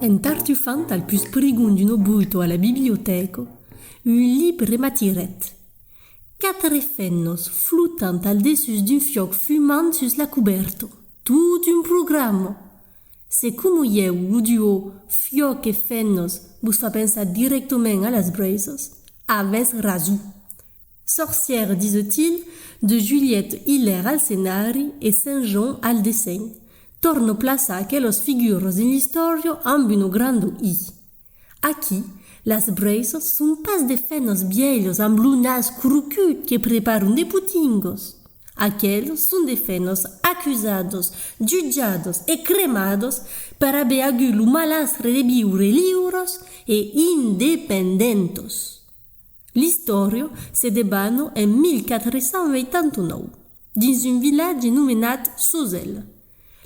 En tartufant al pus prigon d'un obuito a la bibliotèco, un libre m'atirèt. Quatre fennos flotant al dessús d'un fiòc fumant sus la cubèrta. Tot un programa! Se coma ieu lo duò fiòc e fennos vos fa pensar dirèctament a las braisas, avètz rason. Sorcière disent-il, de Juliette Hilaire al scenari e Saint Jean al dessenh, torno plaçar aquelos figures dins l'istòria amb una granda I. Aquí, las Braces son pas de fènas bièlhas amb lo nas crocut que preparan de potingues. Aqueles son de fènas acusadas, jutjadas e cremadas per aver agut lo malastre de viure liures e independentas. L'istòria se debana en 1489, dins un vilatge nomenat Sozèl.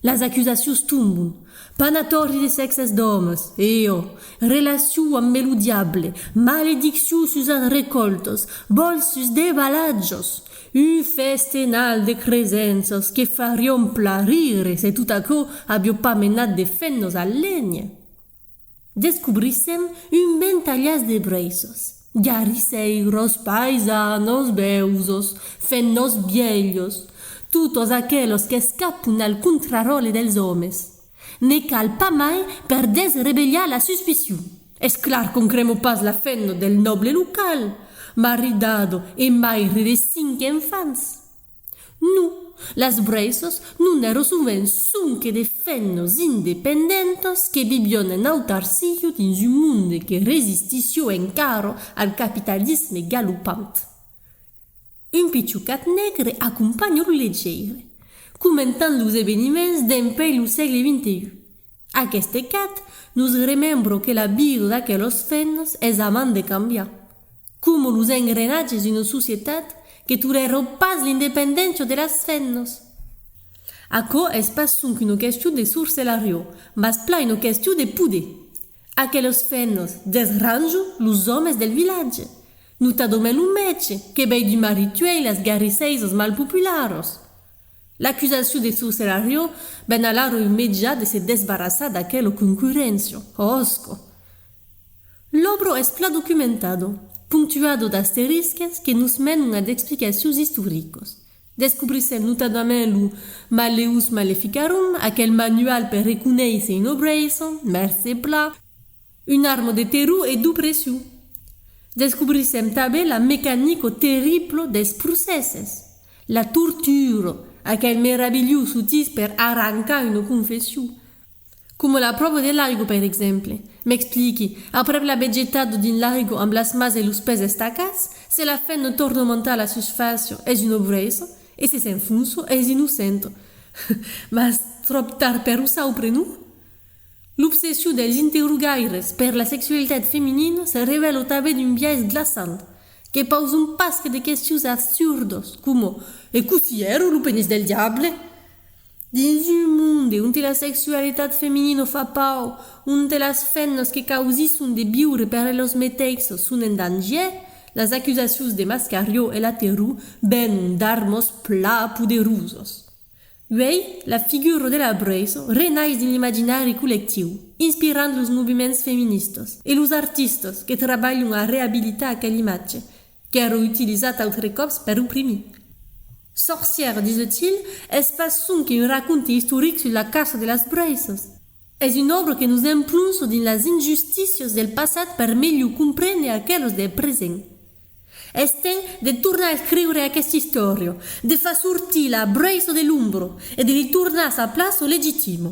Las acusacions tombon, panatòri de sèxes d'òmes, eò, relacion ambe lo diable, malediccion sus as recòltas, vòls sus de balatjos, un festenal de cresenças que farion pla rire se tot aquò avió pas menat de fennos a lenhe. Descobrissèm un ventalhàs de breissos. Garrisèiros, païsanos, beusos, fent-nos vielhos, totos aquelos qu'escapon al contraròtle dels òmes. Ne cal pas mai per desrevelhar la suspicion. Es clar qu'on cremò pas la fenno del nòble local, maridado e maire de cinc enfants. Non, las Brèissos non èrò sovent sonque de fennos independentos que vivión en autarciu dins un monde que resistissió encara al capitalisme galopant. Un pichucat negre acompanha lo legeire, comentant los eveniments dempuèi lo sègle xxi. Aquest ecat nos remembro que la vida d'aquelos fennos es avant de cambiar. Como los engrenatges d'una societat que torèron pas l'independéncia de las femnas. Aquò es pas sonque una question de sorcelariu, mas plan una question de poder. Aquelas femnas, deth ranjo, los òmes del vilatge. Notadament lo mètge, que vei d'un marit uèi las garrisseisas mal popularas. L'acusacion de sorcelariu ven alara un mejà de se desbarrassar d'aquela concurréncia. Òsca! L'òbro es plan documentado, ponctuado d'asterisques que nos menon a d'explicacions istoricos. Descobrissèm notadament lo Malleus Maleficarum, aquel manual per reconéisser un obreisson, mercé Pla, un armo de terror e d'opression. Descobrissèm tanben la mecanico terriblo dels procèsses, la tortura, aquel meravilhós outís per arrancar una confession. Coma la pròva de l'arigo per exemple. M'expliqui, aprèp l'aver getat dins l'arigo amb las mas e los pès estacats, se la fèn no torna montar a la susfàcia, es un obrèiso, e se s'enfonsa, es innocent. Mas tròp tard per o saupre, non? L'obsession dels interrogaires per la sexualitat feminina se revèla tanben un biais glaçant, que pausa un pasque de questions assurdas, coma, E cossí èra lo penís del diable? Dins un monde onte la sexualitat feminino fa paur, onte las femnas que causisson de viure per elos meteixos son en dangier, las acusacions de Mascarió e Laterrù venon d'armos pla poderosos. Uèi, la figura de la Brèiso renais dins l'imaginari collectiu, inspirant los movements feministas e los artistas que trabalhon a reabilitar aquel imatge Qu'èro utilizat autre còps per oprimir. Sorcièr, dise-t-il, es pas sonque un raconte istoric sus la caça de las braisas. Es un òbra que nos emplonço dins las injustícias del passat per melhor comprendre aquelas del present. Es temps de tornar escriure aquesta istòria, de far sortir la braisa de l'ombra e de li tornar sa plaça legitima.